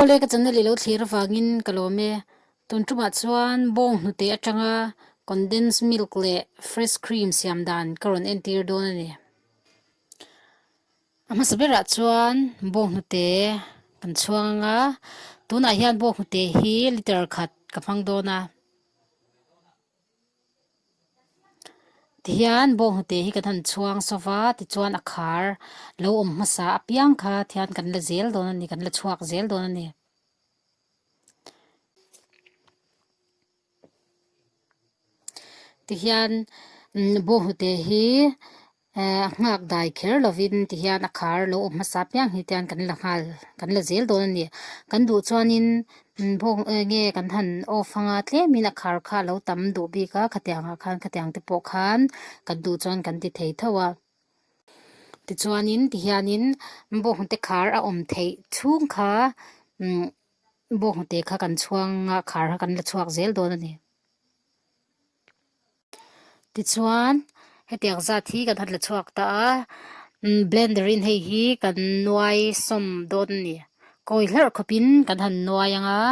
Khawlei ka channa leh lo thlir avangin ka lawm e. Tuntumah chuan bawng hnute atanga condensed milk leh fresh cream siam dan ka rawn entir dawn a ni. A hmasa berah chuan bawng hnute kan chhuang anga, tunah hian bawng hnute hi litre khat ka hmang dawn a. Tihian bawnghnute hi kan han chhuang sawp a, tichuan a khar lo awm hmasa apiang kha thian kan la zel dawn a ni, kan la chhuak zel dawn a ni. Tihian bawnghnute hi. Ehh, a nghak dai kher lovin ti hian a khar lo awm hmasa piang hi te an kan la nghal, kan la zel dawn a ni. Kan duh chuanin Bawng e nge kan han off hanga tlemin a khar kha a lo tam duh bik a, khatiang ah khan khatiang te pawh khan kan duh chuan kan ti thei thauh a. Tichuanin ti hianin Bawng te khar a awm theih chhung kha umm Bawng te kha kan chhuanga khar kha kan la chhuak zel dawn a ni. Tichuan hetiang zat hi kan hatle chhuak ta a, blender in hei hi kan nuai sawm dawn a ni. Kawi hlarh khawp in kan han nuai ang a.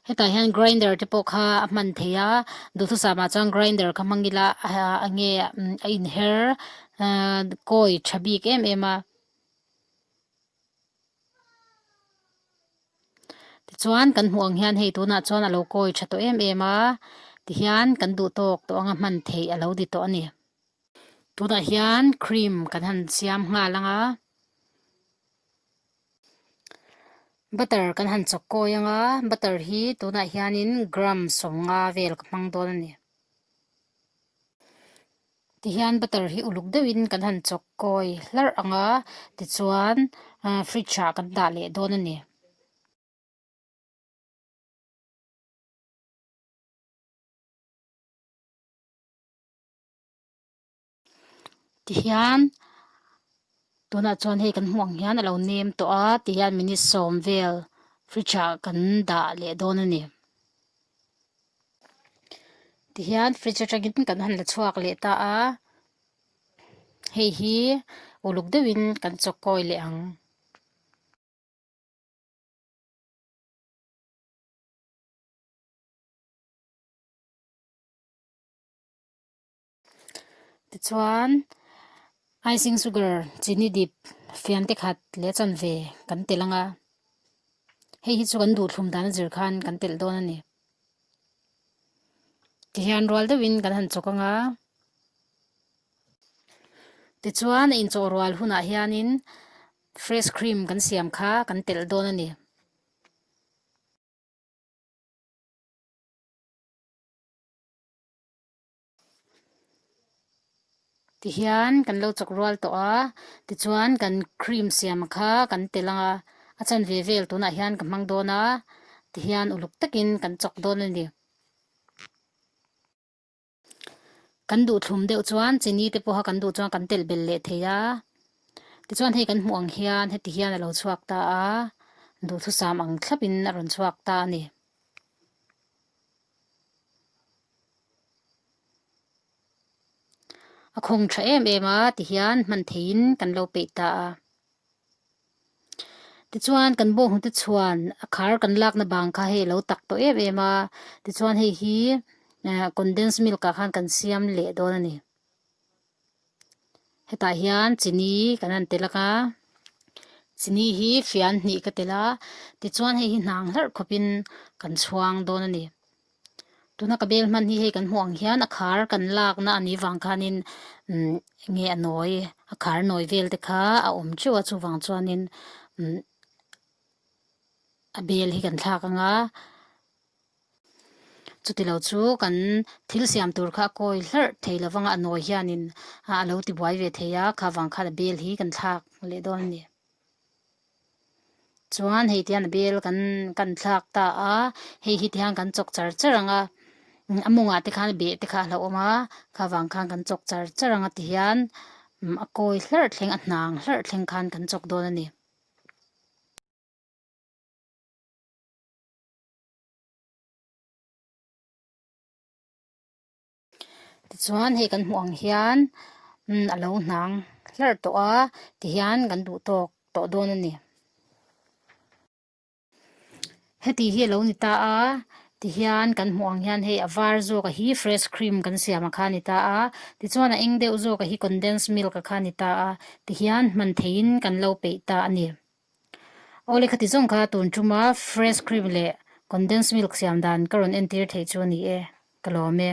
Hetah hian grinder te pawh kha a hman thei a, Duhthusam ah chuan grinder kha hmang ila a nge a inher kawi tha bik em em a. Tichuan kan hmuh ang hian hei tunah chuan a lo kawi tha tawh em em a, ti hian kan duh tawk tawh anga hman theih a lo di tawh a ni. Tunah hian cream kan han siam nghal ang a, butter kan han chawk kawi ang a, butter hi tunah hianin gram sawm nga vel ka hmang dawn a ni. Tihian butter hi uluk deuhin kan han chawk kawi hlarh ang a, tichuan aaa fridge ah kan dah leh dawn a ni. Tihian tunah chuan hei kan hmuh ang hian a lo nem tawh a, tihian minute sawm vel fridge ah kan dah leh dawn a ni. tihian fridge atangin kan han la chhuak leh ta a hei hi uluk deuhin kan chawkawi leh ang. Tichuan, icing sugar, chini dip, fian te khat leh a chanve kan telh ang a, hei hi chu kan duhthlum dan a zir khan kan telh dawn a ni. Tihian rual deuhin kan han chawk ang a. Tichuan a inchawh rual hunah hianin fresh cream kan siam kha kan telh dawn a ni. ti hian kan lo chawk rual tawh a tichuan kan cream siam kha kan telh ang a a chan ve vel tunah hian ka hmang dawn a ti hian uluk takin kan chawk dawn a ni kan duhthlum deuh chuan chini te pawha kan duh chuan kan telh bel leh thei a tichuan hei kan hmuh ang hian heti hian a lo chhuak ta a duhthusam ang thlapin a rawn chhuak ta a ni. A khawng tha em em a ti hian hman theihin kan lo peih ta a. Tichuan kan bawng hnu te chuan a khar kan lakna bang kha hei a lo tak tawh em em a. Tichuan hei hi condensed milk ah khan kan siam leh dawn a ni. hetah hian chini kan rawn tel aka chini hi fian hnih ka tela tichuan hei hi hnang hlarh khawpin kan chhuang dawn a ni tuna ka bel hman hi hei kan hmuh ang hian a khar kan lakna a nih vang khanin umm nge a nawi a khar nawi vel te kha a awm teuh a chuvang chuanin umm a bel hi kan thlak anga. Chuti lo chu kan thil siam tur kha a kawi hlarh thei lo vanga a nawi hianin a lo ti buai ve thei a, kha vang khan a bel hi kan thlak leh dawn a ni. Chuan hei tian a bel kan kan thlak ta a, hei hi tiang kan chawk char char ang a, a mawngah te khan a beh te kha a hlo awm a, kha vang khan kan chawk char char ang a ti hian a kawi hlarh thleng a hnang hlarh thleng khan kan chawk dawn a ni. Tichuan hei kan hmuh ang hian umm a lo hnang hlar tawh a ti hian kan duh tawk tawh dawn a ni. Heti hi a lo ni ta a ti hian kan hmuh ang hian hei a var zawk a hi fresh cream kan siam a kha a ni ta a. Tichuan a eng deuh zawk a hi condensed milk a kha a ni ta a ti hian hman thei in kan lo peih ta a ni. Aw lehkha ti zawng kha tun tum a, fresh cream leh condensed milk siam dan ka rawn entir theih chu a ni e, ka lawm e.